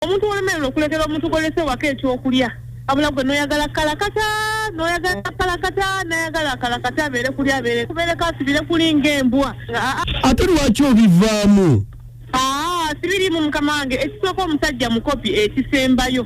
omuntu wolemererwa okulekera omuntu golese waka ekyokulya abula gwe noyagala kalakata noyagala kalakata nayagala kalakata abeere kuli abeere kubeere kasibire kulinga embwa ate lwaki obivaamu sibirimu mukama wange ekisooka omusajja mukopi ekisembayo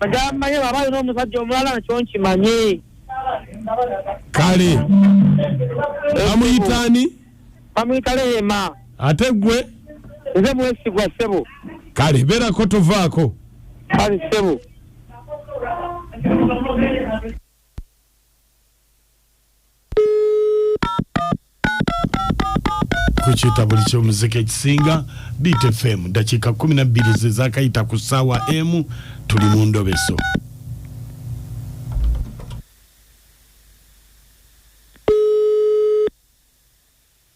agamanye baba alina omusajja omulala nkyo nkimanye kale bamuyitani bamuyita lehema ate gwe nze mwesigwa ssebo kale beerako tovaako kale ssebo ku kitabuli ky'omuziki ekisinga beat fm ddakiika 12 ze zakayita ku ssaawa emu tuli mu ndobeso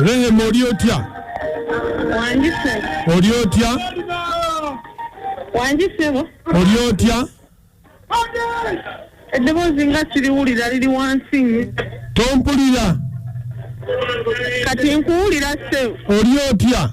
Rehema oli otya? Wandise. Oli otya? Wandise bo. Oli otya? Eddoboozi nga siriwulira liri wansi nnyo. Tompulira. Kati nkuwulira ssebo. Oli otya?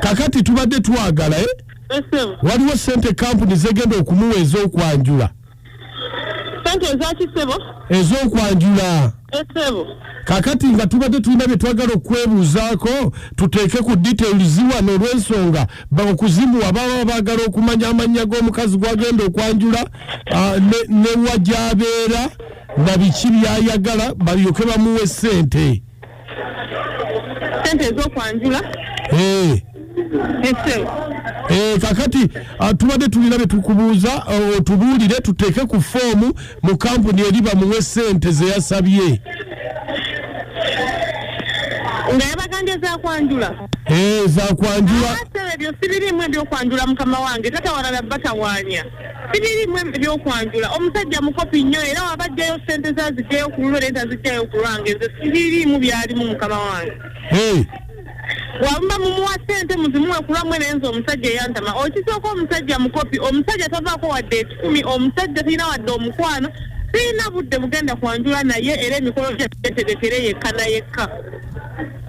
kakati tubadde twagala eh? waliwo sente kampuni zegenda okumuwa ezokwanjula ezokwanjula kakati nga tubadde tulina byetwagala okwebuuzaako tuteeke ku detail ziwano olwensonga okuzimuwa baba bagala okumanya amannya g'omukazi gwagenda okwanjula ah, newa gyabeera na biki byayagala balyoke bamuwa esente sente ezokwanjula eh. Eh, kakati ah, tubadde tulina betukubuuza eh, otubuulire tuteeke ku foomu mu kampuni eri bamuwe sente zeyasabye nga yabagambye zakwanjula eh, zakwanjula ebyo sibirimu ebyokwanjula mukama wange tatawalala batawanya sibirimu ebyokwanjula omusajja mukopi nnyo era wabajjayo sente ze azijjayo ku lulwe nente azijjayo ku lwange nze sibirimu byalimu mukama wange wamuba mumuwa sente muzimuwe ku lwamwe naye nze omusajja eyantama okisooka omusajja mukopi omusajja tavaako wadde ekikumi omusajja talina wadde omukwano sirina budde bugenda kwanjula naye era emikolo gyetegekere yekka na yekka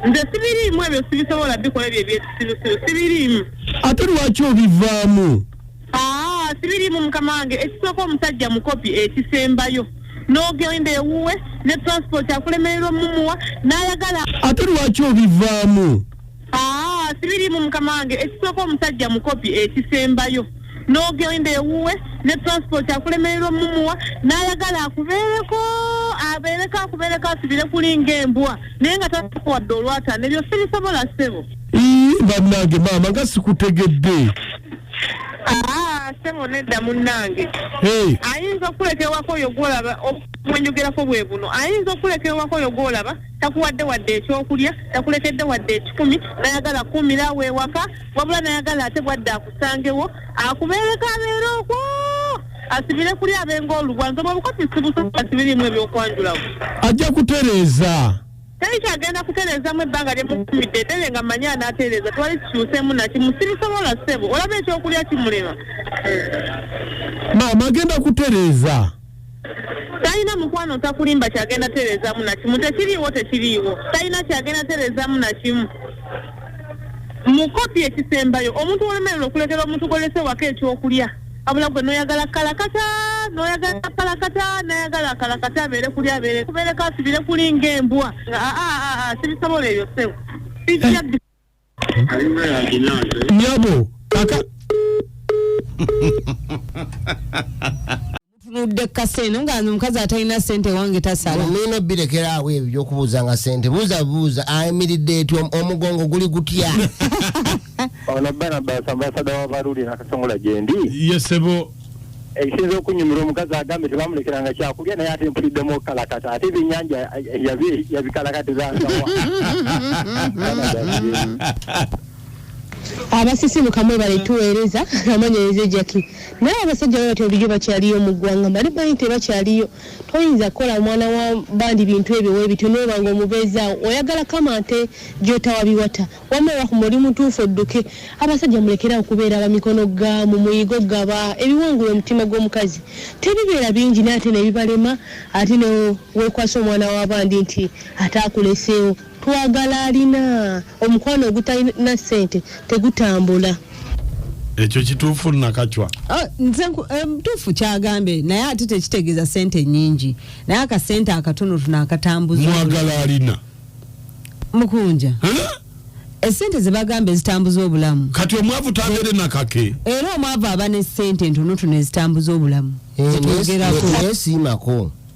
nze sibirimu ebyo sibisobola bikola ebyo ebyekisirusiru sibirimu ate lwaki obivaamu aa ah, sibirimu mukama wange ekisooka omusajja mukopi ekisembayo n'ogenda ewuwe ne transport akulemererwa mumuwa n'ayagala ate lwaki obivaamu aa ah, sibirimu mukama wange ekisooka omusajja mukopi ekisembayo n'ogenda ewuwe ne transport akulemererwa mumuwa n'ayagala akubeereko abeereko akubeereko asibire kulinga embwa naye nga takuwadde olwatana ebyo sibisobola ssebo bannange maama nga sikutegedde Ah, sebo nedda munnange Hey. ayinza okuleka ewaka oyo gwolaba mwenyogerako bwe buno ayinza okuleka ewaka oyo gwolaba takuwadde wadde ekyokulya takulekedde wadde ekikumi nayagala kuumira awo ewaka wabula nayagala ate bwadde akusangewo akubeereko abeere okwo asibire kuli abenga olubwa nze bwebukopi sibusobola sibirimu ebyokwanjulawo ajja kutereeza teri kyagenda kutereezamu ebbanga lye mutumidde eddere nga manyi anaatereeza twali kikyuseemu nakimu sibisobola ssebo olaba ekyokulya kimulema maama agenda kutereeza talina mukwano takulimba kyagenda tereezamu nakimu tekiriiwo tekiriiwo talina kyagenda tereezamu nakimu mukopi ekisembayo omuntu wolemerera okulekera omuntu gwolese wako ekyokulya abula gwe noyagala kalakata noyagala kalakata nayagala kalakata abeere kuli abeere kubeereko asibire kuli ngaembwa ah, ah, ah, sibisobola ebyo sewo nyabo aka tunudde kukasa eno nga nze omukazi atalina sente wange tasala mulina obirekeraawo ebyo byokubuuza nga sente buuza buuza ayimiridde eti omugongo guli gutya ono banabas ambasada wabaluli nakasongola gyendi yesebo ekisinza okunyumira omukazi agambe tebamulekeranga kyakulya naye ate mpuliddemu okukalakata ate ebyenyanja yabikalakatizasawa abasisimuka mwebale tuweereza amanyereza ejaki naye abasajja babati obulijo bakyaliyo mu ggwanga mbali banyi tebakyaliyo toyinza kukola omwana wa bandi bintu ebyo webityo nobanga omubeezaawo oyagala kama nte gyotawabiwata wama rahuma oli mutuufu odduke abasajja mulekera okubeera abamikono ga mu muyigo gaba ebiwangula omutima gw'omukazi tebibeera bingi naye ate nebibalema ate newekwasa omwana wa bandi nti ataakuleseewo Twagala alina omukwano ogutalina ssente tegutambula. Ekyo kituufu nakacwa. Ah, nze eh, mtuufu kyagambe naye ate tekitegeeza sente nyingi naye akasente akatono tuno akatambuza mwagala alina mukunja esente zebagamba ezitambuza obulamu kati omwavu tagere nakake era omwavu aba ne sente ntono tuno ezitambuza obulamu eh, zetugerako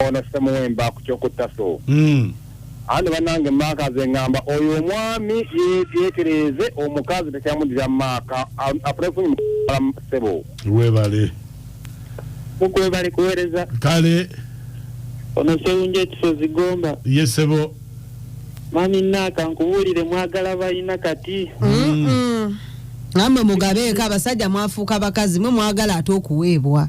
Ono Semuwemba ku kyokutta so. Mm. Andi banange maaka ze ngamba oyo omwami yetereeze omukazi tekyamudira maaka apulefunyi sebo. Webale. Mukwebale kuwereza. Kale. Ono sewunja ekisozi gomba. Ye sebo. Mami naaka nkubuulire mwagala balina kati. Mm -mm. Mm. Namwe mugabeeko abasajja mwafuuka bakazi mwe mwagala ate okuweebwa.